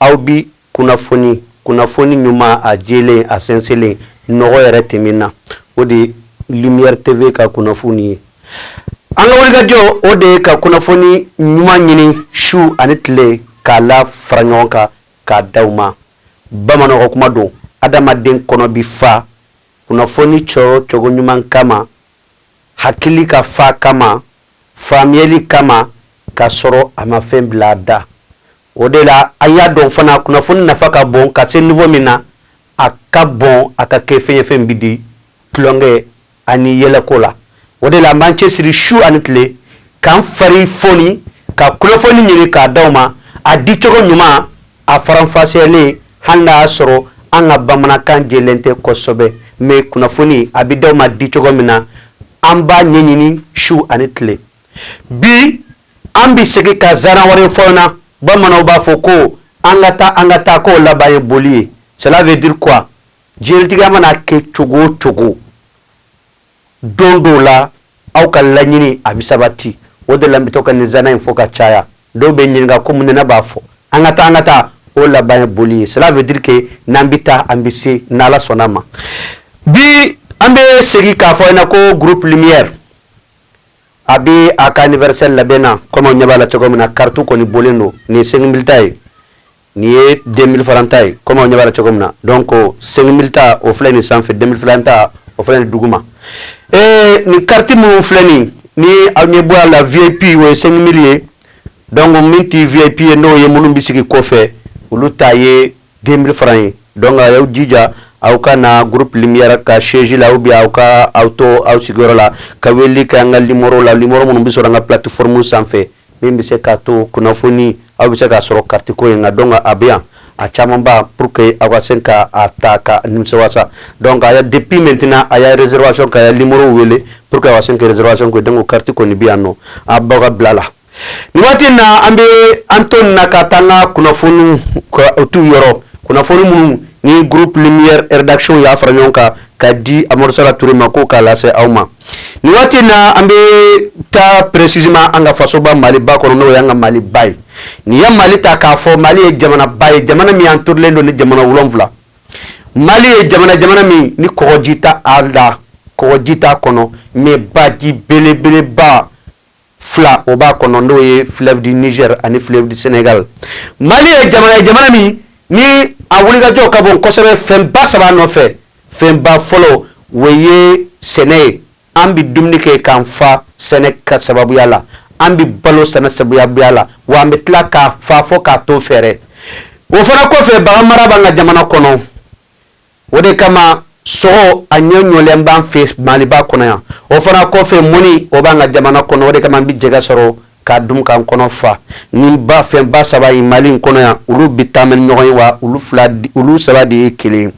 Aw bi kunnafoni, kunnafoni ɲuman, a jɛlen, a sɛnsɛnlen, nɔgɔ yɛrɛ tɛ min na, o de ye Lumière TV ka kunnafoni ye. An ka wulikajɔ, o de ye ka kunnafoni ɲuman ɲini su ani tile, k'a lafara ɲɔgɔn kan, k'a d'aw ma. Bamananw ka kuma don, Adamaden kɔnɔ bɛ fa kunnafoni sɔrɔcogo ɲuman kama, hakili ka fa kama, faamuyali kama, k'a sɔrɔ a ma fɛn bila a da. O de la an y'a dɔn fana kunnafoni nafa ka bon ka se niveau min na, a ka bon a ka kɛ fɛn ye fɛn min bɛ di tulonkɛ ani yɛlɛko la. O de la an b'an cɛsiri su ani tile k'an fari foni ka kunnafoni ɲini k'a d'aw ma, a dicogo ɲuman a faranfasiyalen hali n'a y'a sɔrɔ an ka bamanankan jɛlen tɛ kosɛbɛ mais kunnafoni a bɛ d'aw ma dicogo min na an b'a ɲɛɲini su ani tile. Bi An bɛ segin ka zana wɛrɛ fɔ na bamananw b'a fɔ ko an ka taa an ka taa k'o laban ye boli ye ça veut dire que diɲɛlatigɛ mana kɛ cogo o cogo don dɔw la aw ka laɲini a bɛ sabati o de la bɛ to ka nin zana in fɔ ka caya dɔw bɛ ɲininka ko mun na n b'a fɔ an ka taa an ka taa o laban ye boli ye ça veut dire que n'an bɛ taa an bɛ se n'ala sɔnn'a ma bi an bɛ segin k'a fɔ in na ko groupe lumière A bɛ a ka anniversaire labɛn na comme aw ɲɛ b'a la cogo min na carte kɔni bɔlen don nin ye 5000 ta ye nin ye 2000 francs ta ye comme aw ɲɛ b'a la cogo min na donc 5000 ta o filɛ nin sanfɛ 2000 francs ta o filɛ nin duguma ee nin carte minnu filɛ nin ni aw ɲɛ b'a la VIP o ye 5000 ye donc min tɛ VIP ye n'o ye minnu bɛ sigi kɔfɛ olu ta ye 2000 francs ye donc a y'aw jija aw ka na groupe lumière ka siège la ou bien aw ka aw to aw sigiyɔrɔ la ka weleli kɛ an ka nimoro la nimoro minnu bɛ sɔrɔ an ka plateforme sanfɛ min bɛ se k'a to kunnafoni aw bɛ se k'a sɔrɔ carte ko in kan donc a bɛ yan a camanba pour que aw ka se ka a ta ka nimisa wasa donc a depuis maintenant a y'a réservation ka nimoro wele pour que aw ka se ka réservation kɛ donc carte kɔni bɛ yannɔ a b'aw ka bila la Ni waati in na an bɛ an to na ka taa ka kunnafoni tu yɔrɔ kunnafoni minnu ni groupe rédaction y'a fara ɲɔgɔn kan k'a di amadou sala touré ma ko k'a lase aw ma ni waati in na an bɛ taa précisément an ka faso soba mali ba kɔnɔ n'o y'an ka mali ba ye n'i ye mali ta k'a fɔ mali ye jamana ba ye jamana min a entourélen don ni jamana wolonwula mali ye jamana jamana min ni kɔgɔji t'a la kɔgɔji t'a kɔnɔ mais baji belebeleba fila o b'a kɔnɔ n'o ye fleuve du Niger ani fleuve du Senegal Mali ye jamana ye jamana min ni a wulikajɔ ka bon kosɛbɛ fɛnba saba nɔfɛ fɛnba fɔlɔ o ye sɛnɛ ye an bɛ dumuni kɛ k'an fa sɛnɛ ka sababuya la an bɛ balo sɛnɛ sababuya la wa an bɛ tila ka fa fo k'a tɔ feere o fana kɔfɛ baganmara b'an ka jamana kɔnɔ o de kama sogo a ɲɛ ɲɔlen b'an fɛ maliba kɔnɔ yan o fana kɔfɛ mɔni o b'an ka jamana kɔnɔ o de kama an bɛ jɛgɛ sɔrɔ k'a dun k'an kɔnɔ fa nin fɛnba saba ye mali in kɔnɔ yan olu bɛ taama ɲɔgɔn ye wa olu fila olu saba de ye kelen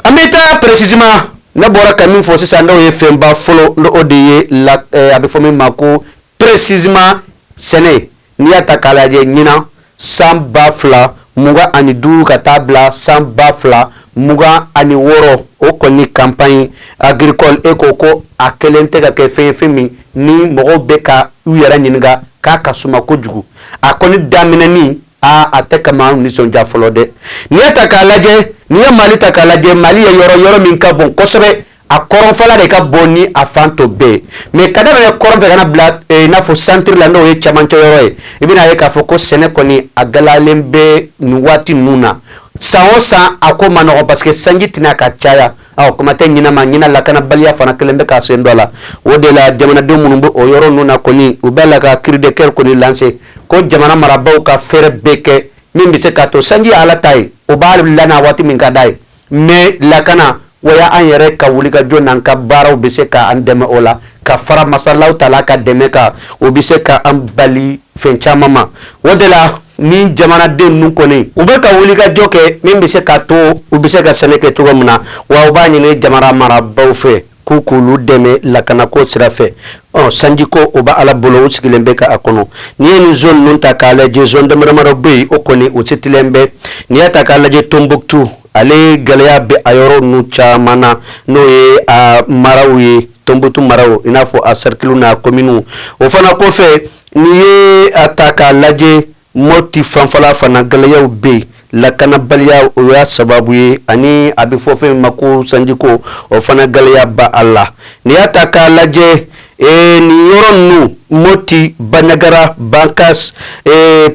an bɛ taa précisément ne bɔra ka min fɔ sisan n'o ye fɛnba fɔlɔ n'o de ye la eh, a bɛ fɔ min ma ko Précisément sɛnɛ n'i y'a ta k'a lajɛ ɲinan san ba fila mugan ani duuru ka taa bila san ba fila mugan ani wɔɔrɔ o kɔni campagne agricole e ko ko a kɛlen tɛ ka kɛ fɛn fɛn min ni mɔgɔw bɛ ka u yɛrɛ ɲininka k'a ka suma kojugu a kɔni daminɛ in a tɛ ka maa nisɔndiya fɔlɔ dɛ n'i y'a ta k'a lajɛ n'i ye mali ta k'a lajɛ mali ye yɔrɔ yɔrɔ min ka bon kosɛbɛ a kɔrɔnfɛla de ka bon ni a fan tɔ bɛɛ ye mais ka daminɛ kɔrɔnfɛ ka na bila eh, i n'a fɔ santiri la n'o ye camancɛ yɔrɔ ye i bɛna a ye k'a fɔ ko sɛnɛ kɔni a gɛlɛyalen bɛ nin waati ninnu na san o san a ko man nɔgɔn parce que sanji tɛ na ka caya awɔ kuma tɛ ɲinan ma ɲinan lakanabaliya fana kɛlen bɛ k'a sen don a la o de la jamanadenw minnu bɛ o yɔrɔ ninnu na kɔni u bɛ la ka cri de cœur kɔni lancer ko jamana marabaaw ka fɛɛrɛ bɛɛ kɛ min bɛ se k'a to sanji ye ala ta ye o b'a lana waati min ka di a ye mais lakana o ye an yɛrɛ ka wulikajɔ n'an ka baaraw bɛ se ka an dɛmɛ o la ka fara masa Ala wa taala ka dɛmɛ kan o bɛ se ka an bali fɛn caman ma o de la nin jamanaden ninnu kɔni u bɛ ka wulikajɔ kɛ min bɛ se k'a to u bɛ se ka sɛnɛ kɛ cogo min na wa u b'a ɲini jamana marabaaw fɛ ko k'olu dɛmɛ lakanako sira fɛ ɔ sanjiko o bɛ ala bolo u sigilen bɛ ka a kɔnɔ n'i ye nin zone ninnu ta k'a lajɛ zone damadamadaw bɛ yen o kɔni u citélen bɛ n'i y'a ta k'a lajɛ Tombouctou ale gɛlɛya bɛ a yɔrɔ ninnu caman na n'o ye a maraw ye Tombouctou maraw i n'a fɔ a cercle n'a commune o fana kɔfɛ n'i ye a ta k'a lajɛ Moti fanfɛla fana gɛlɛyaw bɛ yen lakanabaliya o y'a sababu ye ani a bɛ fɔ fɛn ma ko sanjiko o fana gɛlɛya b'a la n'i y'a ta k'a lajɛ ee nin yɔrɔ ninnu moti Bandiagara Bankass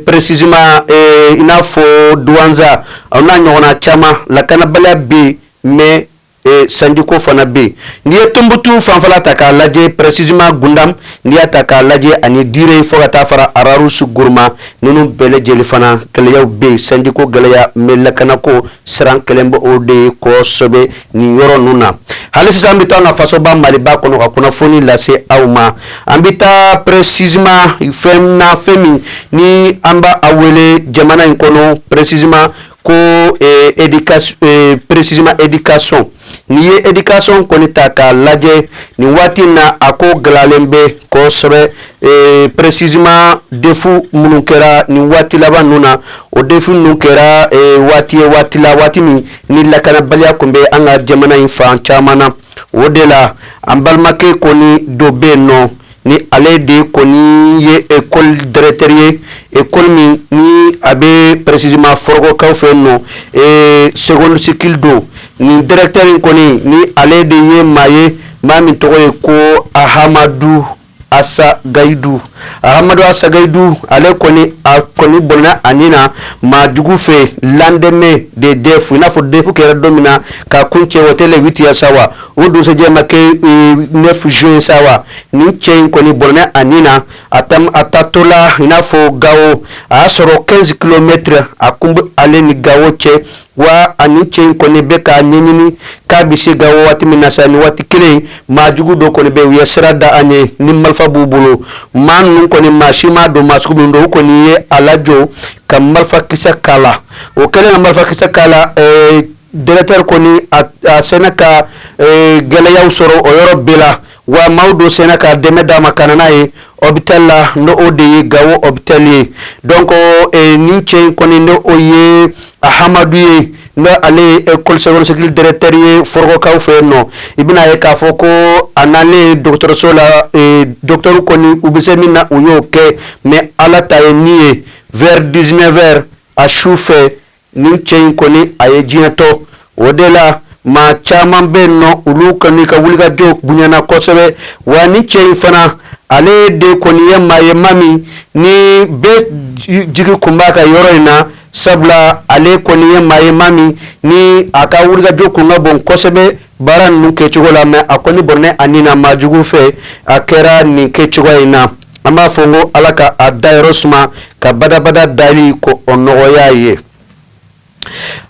précisément i n'a fɔ Douentza a n'a ɲɔgɔnna caman lakanabaliya bɛ yen mɛ E sanjiko fana bɛ yen n'i ye Tumutu fanfɛ ta k'a lajɛ précisément Gundam n'i y'a ta k'a lajɛ ani Dire in fɔ ka taa fara Rarusi Guruma ninnu bɛɛ lajɛlen na fana gɛlɛyaw bɛ yen sanjiko gɛlɛya mɛ lakanako siran kɛlen b'o de ye kɔsɛbɛ nin yɔrɔ ninnu na hali sisan an bɛ taa na fasoba maliba kɔnɔ ka kunnafoni lase aw ma an bɛ taa précisément fɛn na fɛn min ni an b'a wele jamana in kɔnɔ précisément ko précisément éducation n'i ye éducation kɔni ta k'a lajɛ nin waati in na a ko gɛlɛyalen bɛ kosɛbɛ précisément defu minnu kɛra nin waati laban ninnu na o defu ninnu kɛra waati ye waati la waati min ni lakanabaliya tun bɛ an ka jamana in fan caman na o de la an balimakɛ kɔni dɔ bɛ nɔ ni ale de kɔni ye ekɔli directeur ye ekɔli min ni a bɛ précisément Fɔrɔgɔkaw fɛ nɔ ee second cycle don nin directeur in kɔni ni ale de ye maa ye maa min tɔgɔ ye ko Ahamadu Asagayidu Ahamadu Asagayidu ale kɔni a kɔni bɔnɛna a ni na maa jugu fɛ lendemain de defu i n'a fɔ defu kɛra don min na ka kuncɛ o tɛ huit juin sa wa o dugusajɛ ma kɛ neuf juin ye sa wa nin cɛ in kɔni bɔnɛna a ni na a a taatɔla i n'a fɔ gawo a y'a sɔrɔ kɛnzi kilomɛtiri a kun bɛ ale ni gawo cɛ wa nin cɛ in kɔni bɛ ka ɲɛɲini k'a bɛ se gawo waati min na sa ni waati kelen maa jugu dɔ kɔni bɛ u ye sira da a ɲɛ ni marifa b'u bolo maa ninnu kɔni maa si m'a dɔn maa sugu min don u kɔni ye a lajɔ ka marifakisɛ k'a la o kɛlen marifakisɛ k'a la Directeur kɔni a sinna ka gɛlɛyaw sɔrɔ o yɔrɔ bɛɛ la wa maaw dɔw sinna ka dɛmɛ d'a ma ka na n'a ye opitali la n'o de ye gawo opitali ye donc nin cɛ in kɔni n'o ye Ahamadu ye n'ale ye ekɔli second cycle directeur ye Fɔrɔgɔkaw fɛ yen nɔ i bɛna'a ye k'a fɔ ko a nalen dɔgɔtɔrɔso la dɔgɔtɔrɔ kɔni u bɛ se min na u y'o kɛ mɛ ala ta ye min ye vers dix-neuf heures a su fɛ Nin cɛ in kɔni a ye diɲɛ to o de la maa caman bɛ nɔ olu kɔni ka wulikajɔ bonyana kosɛbɛ wa nin cɛ in fana ale de kɔni ye maa ye maa min ni bɛɛ jigi kun b'a kan yɔrɔ in na sabula ale kɔni ye maa ye maa min ni a ka wulikajɔ kun ka bon kosɛbɛ baara ninnu kɛcogo la mais a kɔni bɔnɛna a ni na maa jugu fɛ a kɛra nin kɛcogoya in na an b'a fɔ ko ala ka a dayɔrɔ suma ka badabada dali k'o nɔgɔya a ye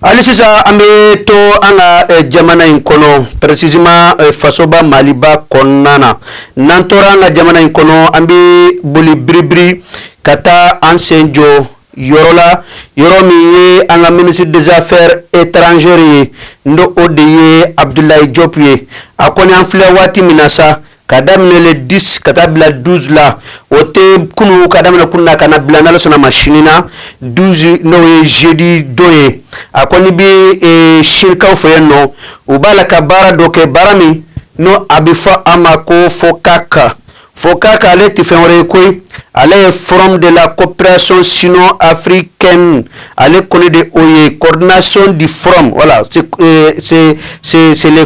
hali sisan an bɛ to an ka eh, jamana in kɔnɔ précisément eh, fasoba maliba kɔnɔna na n'an tora an ka jamana in kɔnɔ an bɛ boli biribiri ka taa an sen jɔ yɔrɔ la yɔrɔ min ye an ka minisiri des affaires étrangères ye n'o de ye abudulayi jɔpu ye a kɔni an filɛ waati min na sa ka daminɛ le 10 ka taa bila 12 la o tɛ kunu ka daminɛ kunu na ka na bila n'ala sɔnna ma sini na 12 n'o ye jeudi don ye a kɔni bɛ e, sinikaw fɛ yen nɔ u b'a la ka baara dɔ kɛ baara min n'a bɛ fɔ a ma ko FOCAC FOCAC ale tɛ fɛn wɛrɛ ye koyi ale ye forum de la coopération sino-africaine ale kɔni de o ye coordination du forum wala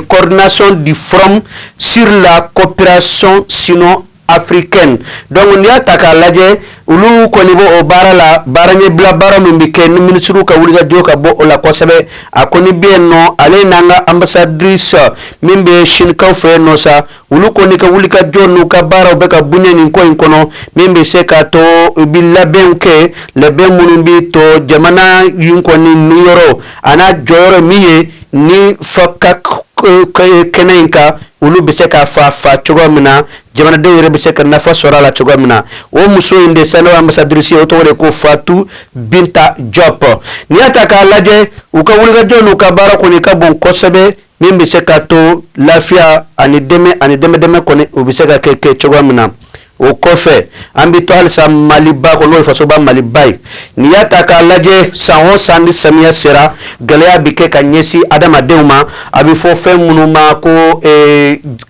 coordination du forum sur la coopération sino-africaine dɔnku n'i y'a ta k'a lajɛ olu kɔni b'o baara la baara ye bila baara min bɛ kɛ ni minisiriw ka wulikajɔ ka bon o la kosɛbɛ a kɔni bɛ nɔ ale n'an ka ambassadrice min bɛ sinikaw fɛ nɔ sa olu kɔni ka wulikajɔ n'u ka baaraw bɛ ka bonya nin ko in kɔnɔ min bɛ se k'a to u bɛ labɛnw kɛ labɛn minnu bɛ to jamana in kɔni niyɔrɔ a n'a jɔyɔrɔ min ye ni FOCAC kɛnɛ in kan olu bɛ se ka fa fa cogoya min na jamanadenw yɛrɛ bɛ se ka nafa sɔrɔ a la cogoya min na o muso in de sa ambassadrice o tɔgɔ de ko fatu binta jɔp n'i y'a ta k'a lajɛ u ka wulikajɔ n'u ka baara kɔni ka bon kosɛbɛ min bɛ se k'a to lafiya ani dɛmɛ ani dɛmɛ dɛmɛ kɔni o bɛ se ka kɛ kɛ cogoya min na o kɔfɛ an bɛ to halisa maliba kɔnɔ n'o ye fasoba maliba ye n'i y'a ta k'a lajɛ san o san ni samiya sera gɛlɛya bɛ kɛ ka ɲɛsin adamadenw ma a bɛ fɔ fɛn minnu ma ko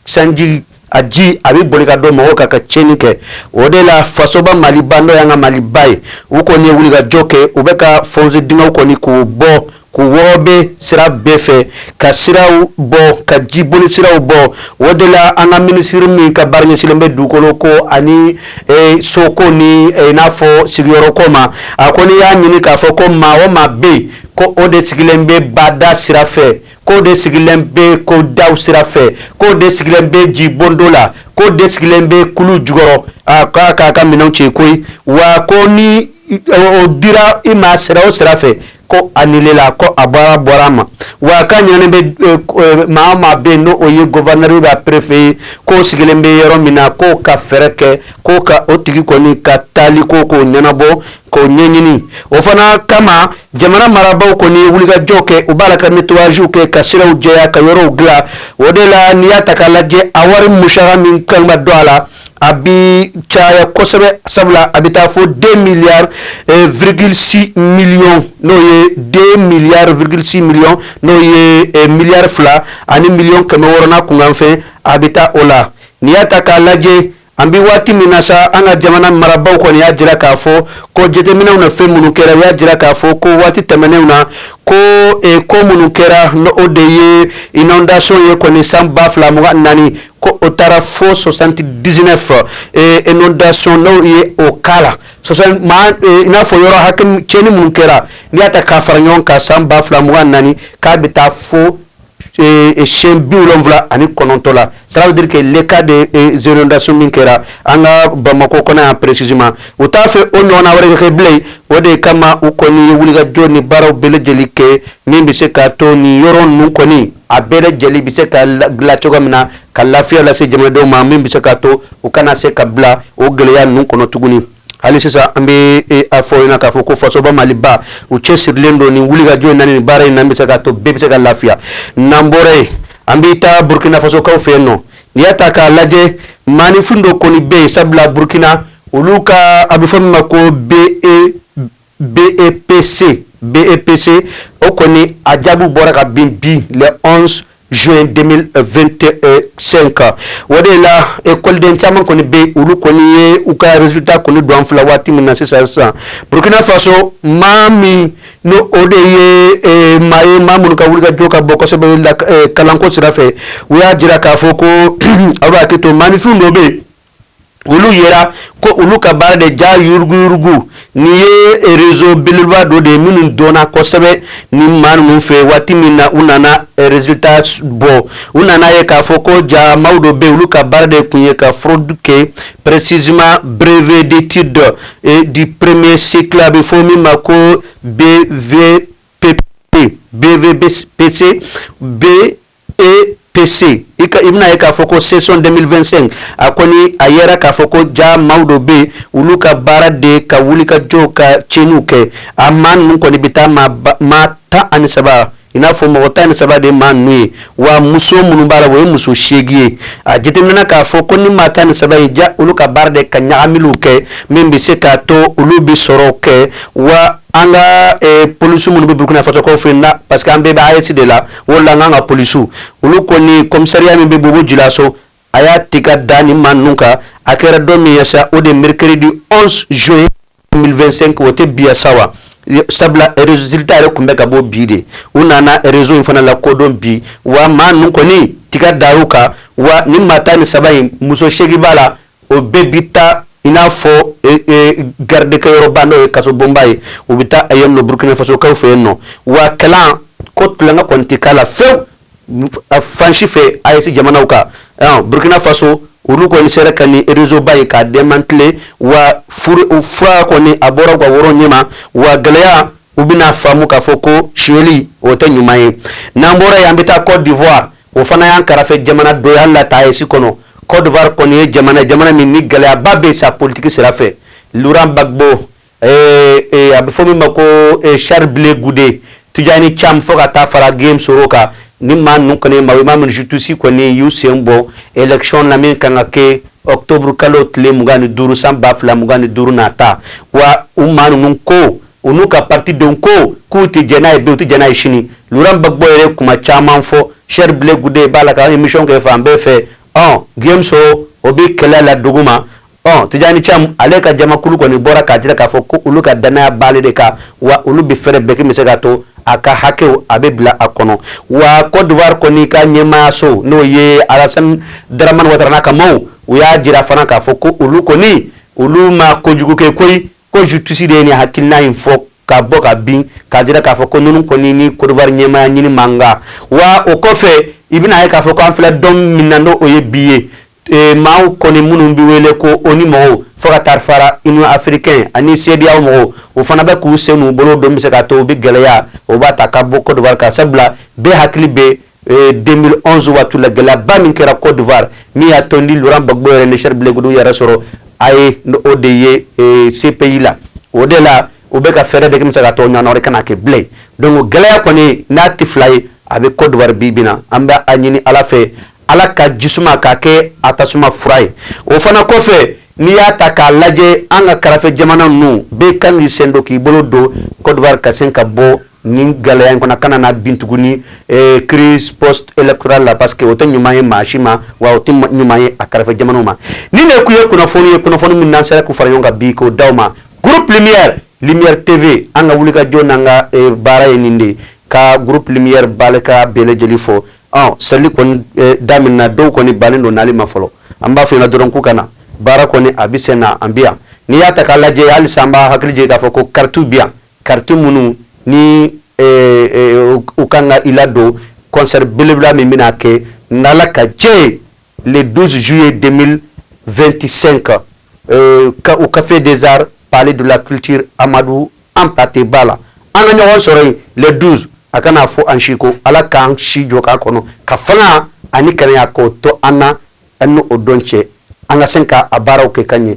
sanji a ji a bɛ boli ka don mɔgɔw kan ka tiɲɛni kɛ o de la fasoba maliba n'o ye an ka maliba ye u kɔni ye wulikajɔ kɛ u bɛ ka fosew kɔni k'u bɔ k'u wɔɔrɔ bɛ sira bɛɛ fɛ ka siraw bɔ ka jibolisiraw bɔ o de la an ka minisiri min ka baara ɲɛsilen bɛ dugukolo ko ani soko ni n'a fɔ sigiyɔrɔko ma a kɔni y'a ɲini k'a fɔ ko maa o maa bɛ yen ko o de sigilen bɛ bada sira fɛ k'o de sigilen bɛ kɔda sira fɛ k'o de sigilen bɛ jibonto la k'o de sigilen bɛ kulu jukɔrɔ a k'a k'a ka minɛnw cɛ koyi wa ko n'o dira i ma sira o sira fɛ ko a la ko a bɔra bɔra a ma wa ka ɲɛ bɛ maa maa bɛ n'o ye gouverneur bɛ perefe ye k'o sigilen bɛ yɔrɔ min na k'o ka fɛɛrɛ kɛ ko ka o tigi kɔni ka taali ko k'o ɲɛnabɔ K'o ɲɛɲini o fana kama jamana marabagaw kɔni ye wulikajɔ kɛ u b'a la ka nettoyagew kɛ ka siraw jɛya ka yɔrɔw dila o de la n'i y'a ta k'a lajɛ a wari musaka min ka kan ka don a la a bi caya kosɛbɛ sabula a bɛ taa fo deux milliards virgule six millions n'o ye deux milliards virgule six millions n'o ye miliyari fila ani miliyɔn kɛmɛ wɔɔrɔ n'a kunkanfɛn a bɛ taa o la n'i y'a ta k'a lajɛ An bɛ waati min na sa an ka jamana marabagaw kɔni y'a jira k'a fɔ ko jateminɛw na fɛn minnu kɛra y'a jira k'a fɔ ko waati tɛmɛnenw na ko e ko minnu kɛra n'o de ye inondation ye kɔni san ba fila mugan naani ko o taara fɔ soixante-dix-neuf inondation ye o k'a la in n'a fɔ yɔrɔ ka cɛnni minnu kɛra n'i y'a ta k'a fara ɲɔgɔn kan san ba fila mugan naani k'a bɛ taa fo siyɛn bi wolonwula ani kɔnɔntɔn la ça veut dire que les cas de inondation min kɛra an ka bamakɔ kɔnɔ yan précisément u t'a fɛ o ɲɔgɔn wɛrɛ kɛ bilen o de kama u kɔni ye wulikajɔ ni baaraw bɛɛ lajɛlen kɛ min bɛ se k'a to ni yɔrɔ ninnu kɔni a bɛɛ lajɛlen bɛ se ka la cogo min na ka lafiya lase jamanadenw ma min bɛ se k'a to u kana se ka bila o gɛlɛya ninnu kɔnɔ tuguni hali sisan an bɛ e, a fɔ ɲɛna k'a fɔ ko fasoba maliba u cɛsirilen don nin wulikajɔ in na nin baara in na bɛ se k'a to bɛɛ bɛ se ka lafiya n'an bɔra yen an bɛ taa burkina fasokaw fɛ yen nɔ n'i y'a ta k'a lajɛ maaninfin dɔ kɔni bɛ yen sabula burkina olu ka a bɛ fɔ min ma ko be BEPC BEPC o kɔni a jaabiw bɔra kabini bi le 11 juin 2025 kan o de la ekɔliden caman kɔni bɛ yen olu kɔni ye u ka résultat kɔni don an filɛ waati min na sisan sisan Burkina Faso maa min ni o de ye eh, maa ye maa minnu ka wulikajɔ ka bon kosɛbɛ la eh, kalanko sira fɛ u y'a jira k'a fɔ ko aw b'a hakili to maaninfinw dɔ bɛ yen olu yera ko olu ka baara de jaa yuruguyurugu ni ye réseau belebeleba dɔ de ye minnu dɔnna kosɛbɛ ni maa ninnu fɛ waati min na u nana résultat bɔ u nana ye k'a fɔ ko jaa maaw dɔ bɛ olu ka baara de tun ye ka fraude kɛ précisément brevet d'études du premier cycle a bɛ fɔ min ma ko BEP BE BEPC B EPC i bɛna ye k'a fɔ ko session 2025 a kɔni a yera k'a fɔ ko jaa maaw dɔ bɛ yen olu ka baara de ka wuli ka jɔ ka cɛnni kɛ a maa ninnu kɔni bɛ taa maa tan ani saba in n'a fɔ mɔgɔ tan ni saba de maa n' ye wa muso minnu b'a la o ye muso seegin ye a jateminɛ k'a fɔ ko ni maa tan ni saba in jaa olu ka baara de ka ɲaga kɛ min bɛ se k'a to olu bɛ sɔrɔ kɛ wa an ka polisi minnu bɛ Burkina Faso fɛ na pa que an bɛɛ bɛsi de la o la an ka polisiw olu kɔni commissariat min bɛ Bobo-Dioulasso a y'a tɛgɛ da nin maa ninnu kan a kɛra dɔ min ye sa o de mercredi 11 juin 2025 o tɛ bi sa wa sabula résultat yɛrɛ tun bɛ ka bɔ bi de u nana réseau in fana lakodɔn bi wa maa ninnu kɔni tɛgɛ da kan wa ni maa tan ni saba in muso seegin b'a la o bɛɛ bɛ taa i n'a fɔ e, e, garidikɛ yɔrɔba n'o ye kasobonba ye u bɛ taa a ye nɔ burukina fasokaw fɛ yen nɔ wa kalan ko tulonkɛ kɔni tɛ k'a la fewu fan si fɛ AES jamanaw kan burukina faso olu kɔni sera ka nin réseauba ye k'a démanteler wa fura kɔni a bɔra ka woro ɲɛma wa gɛlɛya u bɛna faamu k'a fɔ ko suli o tɛ ɲuman ye n'an bɔra yen an bɛ taa kɔdiwari o fana y'an kɛrɛfɛ jamana dɔ ye hali a tɛ AES kɔnɔ kɔdwari kɔni ye jamana jamana min ni gɛlɛyaba bɛ sa politigi sira fɛ Laurent Gbagbo a bɛ fɔ min ma ko Charles Blé Goudé Tidjane Thiam fo ka taa fara Guillaume Soro kan nin maa ninnu kɔni maa ye maa min ni justice kɔni y'u sen bɔ élection la min ka kan ka kɛ octobre kalo tile mugan ni duuru san ba fila mugan ni duuru na ta wa o maa ninnu ko u n'u ka parti denw ko k'u tɛ jɛn n'a ye bi u tɛ jɛn n'a ye sini Laurent Gbagbo yɛrɛ ye kuma caman fɔ Charles Blé Goudé b'a la ka emission kɛ fan bɛɛ fɛ ɔ Guillaume Soro o bɛ kɛlɛ la duguma ɔ Tidjane Thiam ale ka jamakulu kɔni bɔra k'a jira k'a fɔ ko olu ka dannaya b'ale de kan wa olu bɛ fɛɛrɛ bɛɛ kɛ min bɛ se k'a to a ka hakew a bɛ bila a kɔnɔ wa Cote d'Ivoire kɔni ka ɲɛmaayaso n'o ye Alassane Dramane Ouattara n'a ka maaw u y'a jira fana k'a fɔ ko olu kɔni olu ma kojugu kɛ koyi Ko justice de ye nin hakilina in fɔ ka bɔ ka bin k'a jira k'a fɔ ko ninnu kɔni ni Kodowari ɲɛmaaya ɲini man kan wa o kɔfɛ i bɛna ye k'a fɔ ko an filɛ don min na n'o ye bi ye e, maaw kɔni minnu bɛ wele ko ONU mɔgɔw fo ka taa fara Union africaine ani CEDEAO mɔgɔw u fana bɛ k'u sen n'u bolo don bɛ se k'a to u bɛ gɛlɛya u b'a ta ka bɔ Kodowari kan sabula bɛɛ hakili bɛ 2011 waati la gɛlɛyaba min kɛra Cote d'Ivoire min y'a to ni Laurent Gbagbo yɛrɛ ni Charles Blé Goudé yɛrɛ sɔrɔ La Haye o de ye eh, CPI la o de la u bɛ ka fɛɛrɛ bɛɛ kɛ k'a to o ɲɔgɔnna wɛrɛ kana kɛ bilen donc gɛlɛya kɔni n'a tɛ fila ye a bɛ Cote d'Ivoire bi bi na an bɛ a ɲini Ala fɛ Ala ka ji suma k'a kɛ a tasuma fura ye o fana kɔfɛ n'i y'a ta k'a lajɛ an ka kɛrɛfɛ jamana ninnu bɛɛ kan k'i sen don k'i bolo don Cote d'Ivoire ka se ka bɔ nin gɛlɛya in fana kana na bin tuguni eh, crise post électorale la parce que o tɛ ɲuman ye maa si ma wa o tɛ ɲuman ye a kɛrɛfɛ jamanaw ma ninnu tun ye kunnafoni ye kunnafoni min n'an sera k'u fara ɲɔgɔn kan bi k'o d'aw ma groupe lumière lumière tv an ka wulikajɔ n'an ka eh, baara ye nin de ka groupe lumière baarakɛla bɛɛ lajɛlen fo ɔ seli kɔni eh, daminɛna dɔw kɔni bannen don n'ale ma fɔlɔ an b'a fɔ u ɲɛna dɔrɔn k'u ka na baara kɔni a bɛ sen na an bɛ yan n'i y'a ta k'a lajɛ halisa an b'aw hakili jigin k'a fɔ ko karitiw bɛ yan Kariti minnu ni u ka kan ka i ladon concert belebeleba min bɛna kɛ n'Ala ka jɛ ye dususu ye den vsen kan ka u kafe dezsari paale de la kiti amadu an pateba la an ka ɲɔgɔn sɔrɔ yen le 12 a kana fɔ an si kɔ ala k'an si jɔ k'a kɔnɔ ka fanga ani kɛnɛya k'o to an na an n'o don cɛ an ka se k'a baaraw kɛ ka ɲɛ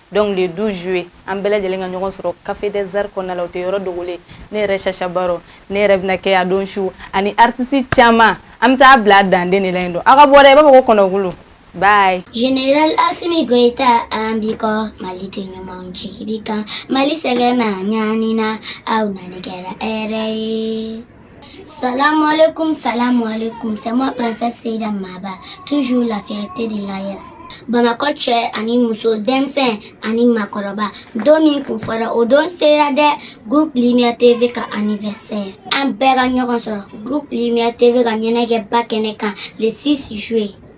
Donc le 12 juillet an bɛɛ lajɛlen ka ɲɔgɔn sɔrɔ café des arts kɔnɔna la o tɛ yɔrɔ dogolen ne yɛrɛ Chacha Baro ne yɛrɛ bɛna kɛ a don su ani artistes caman an bɛ taa bila a danden de la yen nɔ aw ka bɔ dɛ i b'a fɔ ko kɔnɔkulu bye. General Asimi Goyita an b'i kɔ Maliden ɲumanw jigi b'i kan Mali sɛgɛnna ɲanina aw nani kɛra hɛrɛ ye. Salam alaikum, salam alaikum. C'est moi, princesse Seyda Maba. Toujours la fierté de l'AES. Bamako cɛ ani muso denmisɛn ani makɔrɔba don min kun fɔra o don sera dɛ groupe lumière tv ka anniversaire an bɛɛ ka ɲɔgɔn sɔrɔ groupe lumière tv ka ɲɛnajɛba kɛnɛ kan le 6 juillet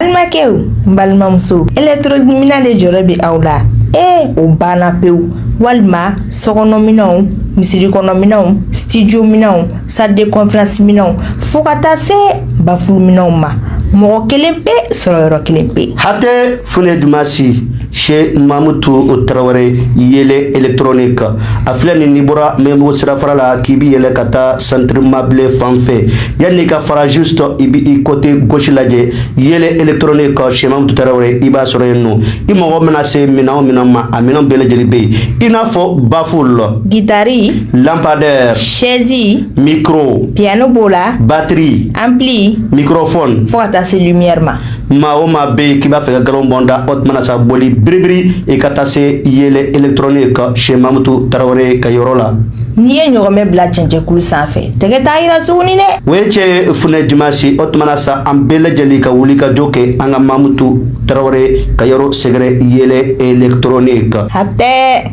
balimakɛw n balimamuso électronique minɛn de jɔrɔ bɛ aw la ee o banna pewu walima sokɔnɔminɛnw misiri kɔnɔminɛnw studio minɛnw salle de conférence minɛnw fo ka taa se bafulu minɛnw ma mɔgɔ kelen pe sɔrɔ yɔrɔ kelen pe hatɛ funɛ jumasi Sɛ mamutu o tarawele yɛlɛ etrnen kan a filɛ nin ni bɔra mɛbugu sira fara la k'i bɛ yɛlɛ ka taa sanribablen fan fɛ yan n'i ka farazo sɔrɔ i bɛ i kɔte gsi lajɛ yɛlɛ etrnen kan sɛtu tarawele i b'a sɔrɔ yen nɔ i mɔgɔ bɛna se minɛn min ma a minɛn bɛɛ lajɛlen bɛ yen i n'a fɔ bafo la gitari lapadɛ sɛɛnsin miro piyɛnani b'o la batiri an bilen miro fɔ fo ka taa se ɲɛma maa o maa bɛ yen k'i b'a fɛ ka nkalon bɔ n da o tuma na sa boli biribiri i ka taa se yɛlɛ électronique chez mamutu tarawele ka yɔrɔ la n'i ye ɲɔgɔmɛ bila cɛncɛkulu sanfɛ tɛgɛ t'a yira suguni dɛ o ye cɛ funɛ jumasi o tuma na sa an bɛɛ lajɛlen ka wuli ka jɔ kɛ an ka mamutu tarawele ka yɔrɔ sɛgɛrɛ yɛlɛ électronique hatɛ